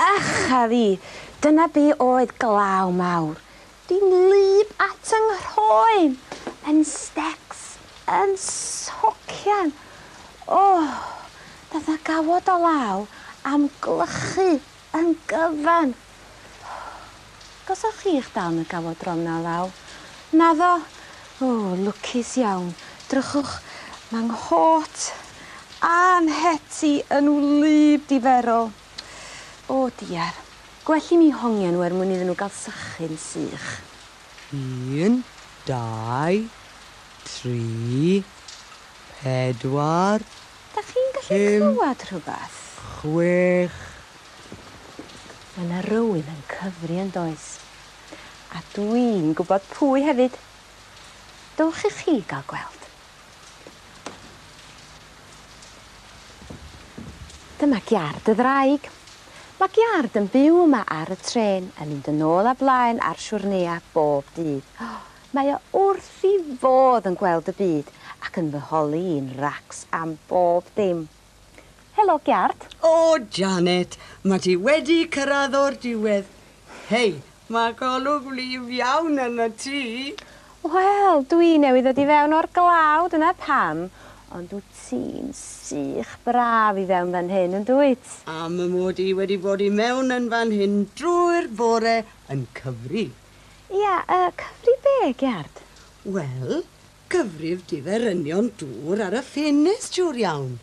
Ych a fi, dyna be oedd glaw mawr. Dwi'n wlyb at yng nghroen, yn stecs, yn socian. O! Fatha gawod o law am glychu Yn gyfan! Gosa chi'ch dal yn y gawodron 'na law. Naddo? O, lwcus iawn. Drychwch, mae nghot a'n het i yn wlyb diferol. O, diar. Gwell i mi hongian nhw er mwyn iddyn nhw gael sychu'n sych. Un, dau, tri, pedwar, Dach chi'n gallu clywed rhywbeth? Pum, chwech. Mae 'na rywun yn cyfri yn does? A dwi'n gwybod pwy hefyd. Dowch i chi gael gweld. Dyma giâr dy ddraig. Mae giâr yn byw yma ar y trên yn mynd yn ôl a blaen ar siwrneau bob dydd. Mae o wrth i fodd yn gweld y byd ac yn fy holi i'n racs am bob dim. Helo Giard! O Janet, ma ti wedi cyrradd o'r diwedd. Hei, ma golwg wlyb iawn arnot ti! Wel, dw i newydd ddod i fewn o'r glaw, dyna pam, ond wt ti'n sych braf i fewn fan hyn, yn dwyt? Am mod i wedi bod i mewn yn fan hyn drwy'r bore yn cyfri. Ia, y cyfrif be, Geard? Wel, cyfrif diferynion dŵr ar y ffenest, siwr iawn.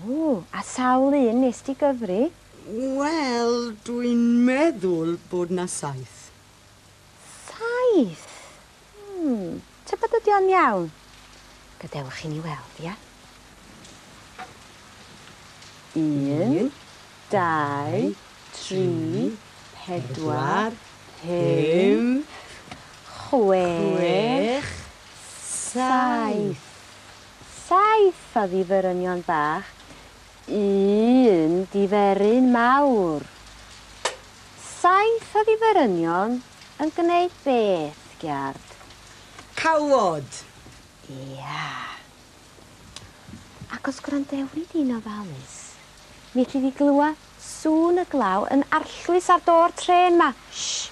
O, a sawl un nes di gyfri? Wel, dw i'n meddwl bod 'na saith. Saith? Hmm. Tybed ydi o'n iawn? Gadewch i ni weld, ia? Un, dau, tri, pedwar, pump, chwech, saith. Saith o ddiferynion bach Un diferyn mawr. Saith o ddiferynion yn gwneud beth, Giard? Cawod! Ia. Ac os gwrandewi di'n ofalus, mi elli di glywed sŵn y glaw yn arllwys ar do'r trên 'ma. Shh!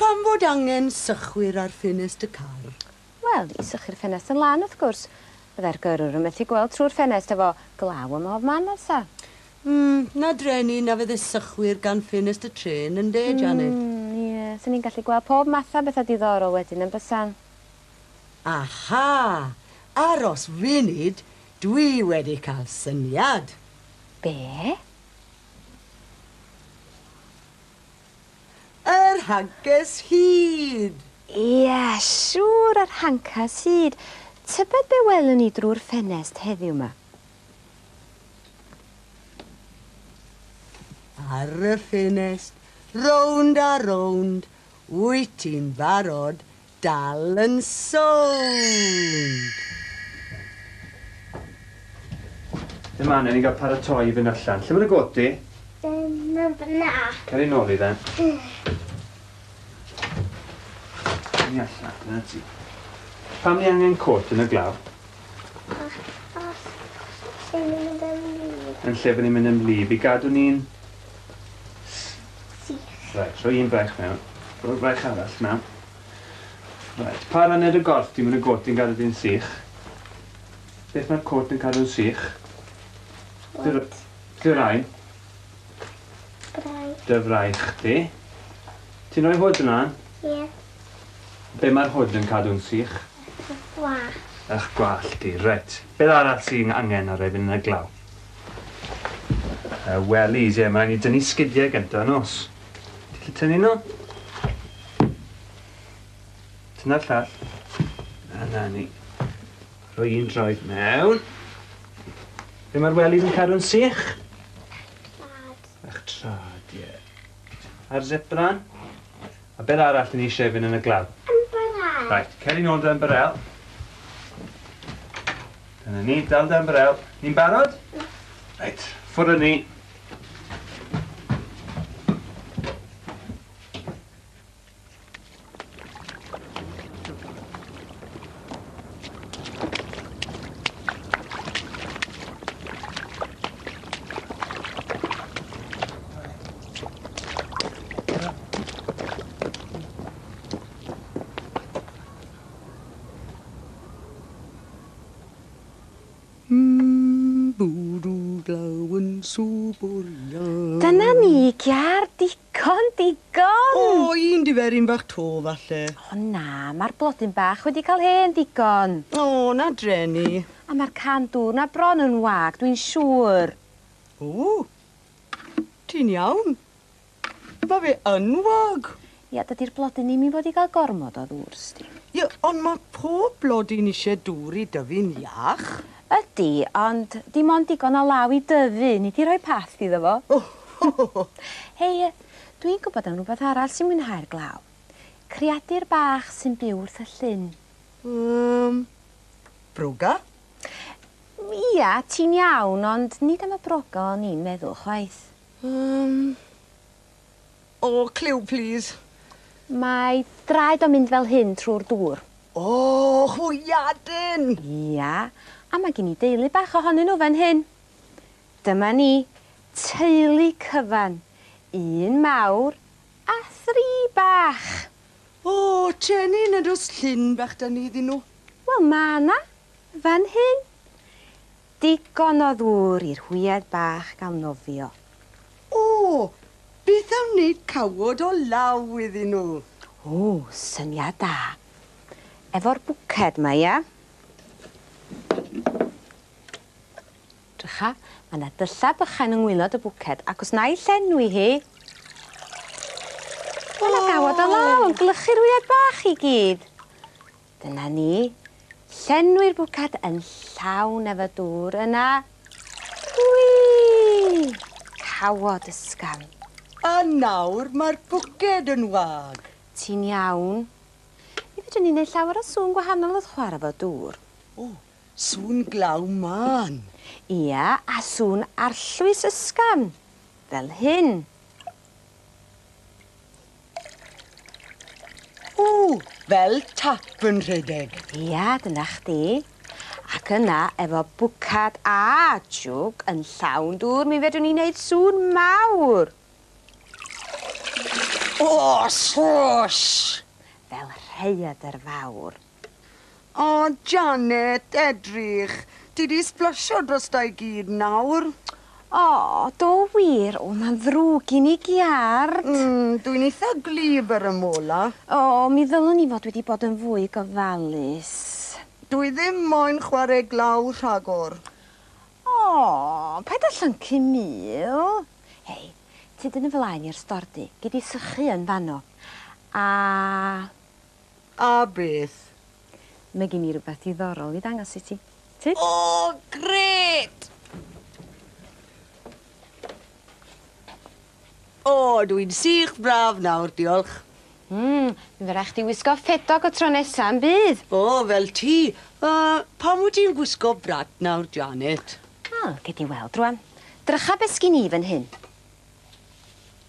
Pam fod angen sychwyr ar ffenest y car? Wel, i sychu'r ffenest yn lan, wrth gwrs. Fyddai'r gyrrwr yn methu gweld trwy'r ffenest efo glaw ym mhob man, Elsa. Mm, 'na drên i, na fydde sychwyr gan ffenest y trên, ynde, Janet? Mm, ie, 'sen ni'n gallu gweld pob math a betha diddorol wedyn, yn bysan? Aha! Aros funud, dwi wedi cael syniad! Be? Yr hancas hud! Ie, siŵr, yr hancas hud. Tybed be welwn ni drwy'r ffenest heddiw 'ma? Ar y ffenest, rownd a rownd, wyt ti'n barod dal yn sownd! Dim man, o'n i'n gael paratoi i fynd allan. Lle mae dy got di? Yn y fyna. Cer i nôl i dden. Ni allan, dyna ti. Pam ni angen cot yn y glaw? Achos lle ni'n mynd yn wlyb. Yn lle fy ni'n mynd yn wlyb i gadw ni'n sych. Reit, rhoi un braich mewn. Rhoi'r braich arall mewn. Reit, pa ran ar y gorff ti'n mynd y gôt yn gadw di'n sych? Beth mae'r côt yn cadw'n sych? Wyt. Dy rain? Braich. Dy fraich di. Ti'n rhoi hwyd ymlaen? Ie. Yeah. Be mae'r hwyd yn cadw'n sych? Ych gwallt. Ych gwallt di, reit. Beth arall sy'n angen ar efyn yn y glaw? Y wellies, ie, mae rhaid ni dynnu sgidiau gyntaf, nos. Ti'n gallu tynnu nhw? Tynnu'r llall. A na ni. Rhoi un droed mewn. Be mae'r wellies yn cadw'n sych? Trad. Ych trad, ie. A'r zipran? A beth arall ni eisiau fynd yn y glaw? Ymbarel. Right, cer i nôl dy ymbarel. Dyna ni, dal dy ymbarel. Ni'n barod? Right, ffwrdd â ni. Dyna ni, Kiar, digon, digon! O, un diferyn fach 'to, falle. O na, mae'r blodyn bach wedi cael hen ddigon. O, na drueni. A mae'r can dŵr 'na bron yn wag, dwi'n siŵr. O, Ti'n iawn? Ma fe yn wag! Ia, dydi'r blodyn ddim i fod i gael gormod o ddŵr, sdi. Ia, ond ma pob blodyn isie dŵr i dyfu'n iach. Ydi, ond dim ond digon o law i dyfu, nid i rhoi path iddo fo. O! Hei, dwi'n gwybod am rwbeth arall sy'n mwynhau'r glaw. Creadur bach sy'n byw wrth y llyn. Yym, broga? Ia, ti'n iawn, ond nid am y brog o'n i'n meddwl chwaith. Yym. O, cliw plîs. Mae draed o'n mynd fel hyn trwy'r dŵr. O, hwyaden! Ia, a mae gen i deulu bach ohonyn nhw fan hyn. Dyma ni, teulu cyfan, un mawr a thri bach. O, Jenny, nad oes llun bach 'da ni iddyn nhw? Wel, mae 'na, Fan hyn? Digon o ddŵr i'r hwyed bach gael nofio. O! Beth am wneud cawod o law iddyn nhw? O, syniad da. Efo'r bwced 'ma, ia? 'Drycha, mae 'na dyllau bychain yng ngwaelod y bwced, ac os wna i llenwi hi... O! Mae 'na gawod o law yn gwlychu'r hwyed bach i gyd. Dyna ni. Llenwi'r bwced yn llawn efo dŵr, yna... Wii! Cawod ysgafn. A nawr mae'r bwced yn wag. Ti'n iawn. Mi fedrwn ni neud llawer o sŵn gwahanol wrth chwara efo dŵr. O, sŵn glaw mân. Ia, a sŵn arllwys ysgafn. Fel hyn. Ww, fel tap yn rhedeg. Ia, dyna chdi. Ac yna, efo bwcad a jwg yn llawn dŵr, mi fedrwn ni wneud sŵn mawr. O, swoosh! Fel rhaeadr fawr. O Janet, edrych! Ti 'di sblasio drosta i gyd nawr. O, do wir, o ma'n ddrwg gin i giât! Mm, dw i'n eitha gwlyb ar y mola. O, mi ddylwn i fod wedi bod yn fwy gofalus. Dw i ddim moyn chware glaw rhagor. O, paid â llyncu Mil. Hei, tyd yn 'y flaen i i'r stordy, gei di sychu yn fanno. A. A beth? Mae gen i rywbeth diddorol i ddangos i ti. Ti? O, grêt! O, dw i'n sych braf nawr, diolch. Mm, fe rai chdi wisgo ffedog y tro nesa, yn bydd? O, fel ti. Uh, pam wyt ti'n gwisgo brat nawr, Janet? Wel, gei di weld rwan. Drycha be sgin i fan hyn.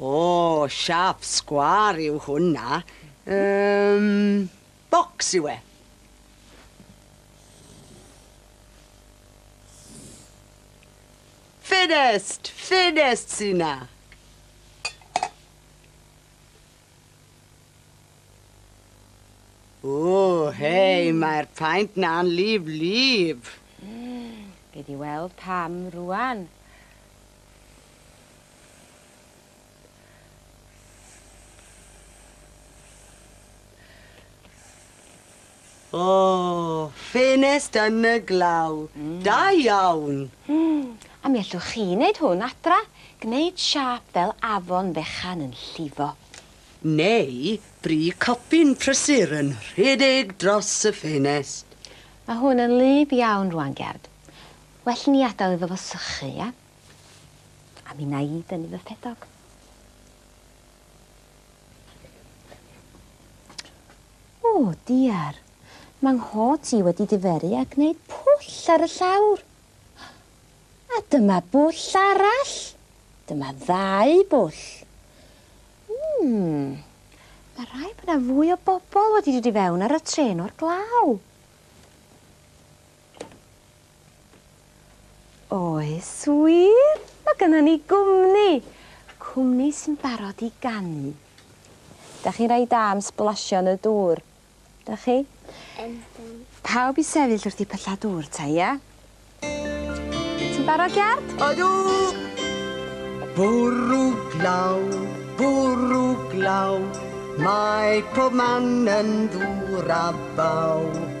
O, siâp sgwâr yw hwnna. Yym, bocs yw e. Ffenest! Ffenest sy 'na. O, hei, mae'r paent 'na'n lif lif. Gei di weld pam rŵan. O! Ffenest yn y glaw. Da iawn! A mi allwch chi wneud hwn adra, gwneud siâp fel afon fechan yn llifo. Neu bri copyn prysur yn rhedeg dros y ffenest. Mae hwn yn wlyb iawn rŵan, Gerd. Well i ni adael iddo fo sychu, ia? A mi wna i dynnu fy ffedog. O, diar. Mae nghot i wedi diferu a gwneud pwll ar y llawr. A dyma bwll arall. Dyma ddau bwll. Mmm. Mae rhaid bod yna fwy o bobl wedi dod i fewn ar y trên o'r glaw. Oes wir? Mae gynnon ni gwmni! Cwmni sy'n barod i ganu. Dach chi'n rhai da am sblasio yn y dŵr, dach chi? Ydyn. Pawb i sefyll wrth i pylla dŵr ta, ia? Ti'n barod, Iard? Ydw! Bwrw glaw, bwrw glaw, mae pob man yn ddŵr a baw.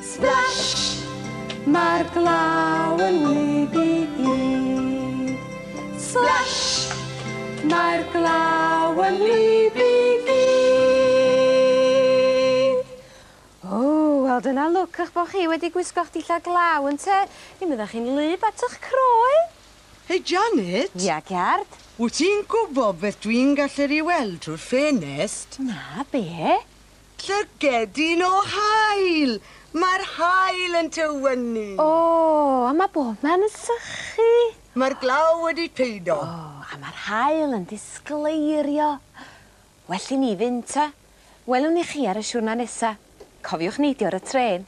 Splash! Mae'r glaw yn wlyb i gyd. Splash! Mae'r glaw yn wlyb i gyd. O, wel dyna lwc eich bod chi wedi gwisgo'ch dillad glaw, ynte? Mi fydda chi'n wlyb at eich croen! Hei Janet! Ia, Gerd? Wyt ti'n gwybod beth dwi'n gallu ei weld trwy'r ffenest? Na, be? Llygedyn o haul! Mae'r haul yn tywynnu. O! A mae bobman yn sychu. Mae'r glaw wedi peido. O! A mae'r haul yn disgleirio. Well i ni fynd ta. Welwn ni chi ar y siwrna nesa. Cofiwch neidio ar y trên.